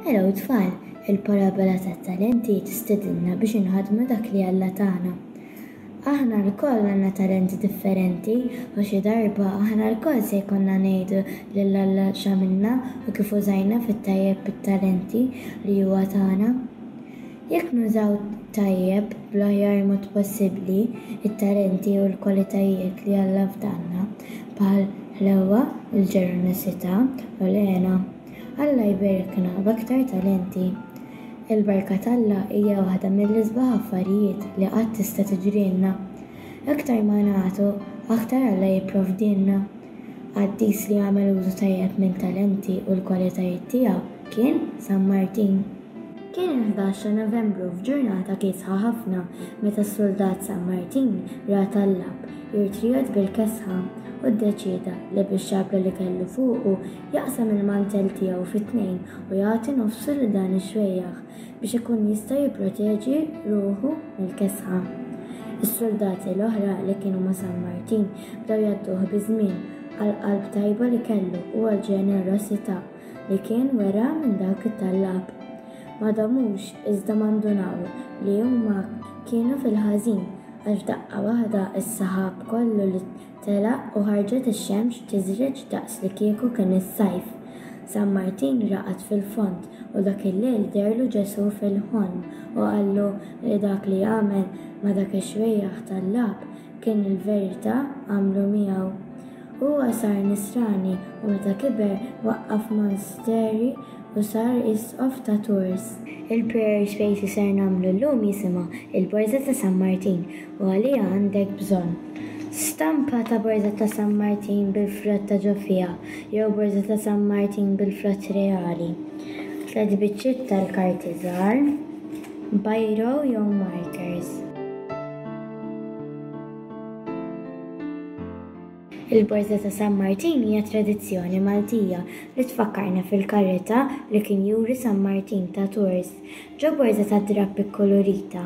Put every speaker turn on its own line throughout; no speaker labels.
Hello tfal, il-parabola tat-talenti tistedinna biex inħadmu dak li Alla tagħna. Aħna lkoll għandna talenti differenti u xi darba aħna lkoll se jkollna ngħidu lil Alla x'għamilna u kif użajna fit-tajjeb it-talenti li huwa tagħna. Jekk nużaw tajjeb, bl-aħjar mod possibbli, it-talenti u l-kwalitajiet li Alla fdalna, bħal ħlewwa, il-ġenerożità u l-hena, Alla jberikna b'aktar talenti. Il-barka t'Alla hija waħda mill-isbaħ affarijiet li qatt tista' tiġrilna. Aktar ma nagħtu, aktar Alla jipprovdilna. Qaddis li għamel użu tajjeb mit-talenti u l-kwalitajiet tiegħu kien San Martin. Kien il-ħdax ta' Novembru f'ġurnata kiesħa ħafna meta s-suldat San Martin ra tallab irid jgħodd bil-kesħa u ddeċieda li bix-xabla li kellu fuqu jaqsam il-mantell tiegħu fi tnejn u jagħti nofsu lil dan ix-xwejjaħ biex ikun jista' jipproteġi ruħu mill-kesħa. Is-suldati l-oħra li kienu ma' San Martin bdew jgħadduh biż-żmien għall-qalb tajba li kellu u għall-ġenerosità li kien wera minn dak it-tallab. Ma damux iżda ma ndunaw li huma kienu fil-ħażin għax f'daqqa waħda s-saħab kollu li telaq u ħarġet ix-xemx tiżreġ daqs li kieku kien is-sajf. San Martin raqad fil-fond u dak il-lejl dehrlu Ġesù fil-ħolm u qallu li dak li għamel ma' dak ix-xwejjaħ tallab kien il-verità għamlu miegħu. Huwa sar Nisrani u meta kiber waqqaf monasteri u sar Isqof ta' Tours. Il-prayer space li ser nagħmlu llum jisimha Il-Borża ta' San Martin u għaliha għandek bżonn, Stampa ta' Borża ta' San Martin bil-frott ta' ġo fiha jew Borża ta' San Martin bil-frott reali, tliet biċċiet tal-karti żgħar, biro jew markers. Il-Borża ta' San Martin hija tradizzjoni Maltija li tfakkarna fil-karità li kien juri San Martin ta' Tours. Ġo borża tad-drapp ikkolorita,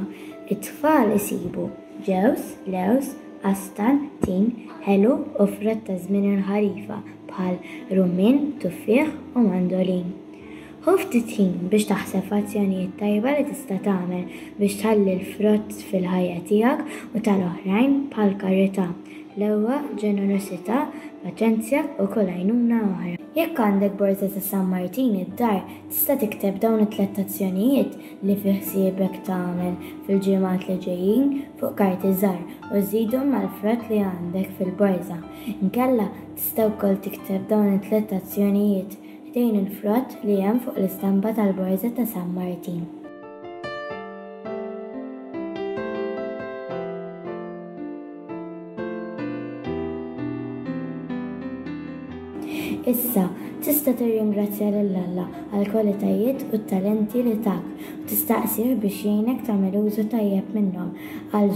it-tfal isibu, ġewż, lewż, qastan, tin, ħelu u frott ta' żmien il-ħarifa bħal rummien, tuffieħ u mandolin. Ħu ftit ħin biex taħseb f'azzjonijiet tajba li tista' tagħmel biex tħalli l-frott fil-ħajja tiegħek u tal-oħrajn, bħall-karità, l-ewwa, ġenerożità, paċenzja, u kull għajnuna oħra. Jekk għandek borża ta' San Martin id-dar, tista' tikteb dawn it-tliet azzjonijiet li fi ħsiebek tagħmel fil-ġimgħat li ġejjin fuq karti żgħar u żżidhom mal-frott li għandek fil-borża. Inkella, tista' wkoll tikteb dawn it-tliet azzjonijiet Ħdejn il-frott li hemm fuq l-istampa tal-Borża ta' San Martin. Issa, tista' tirringrazzja lil Alla għall-kwalitajiet u t-talenti li tak u tistaqsih biex jgħinek tagħmel użu tajjeb minnhom għal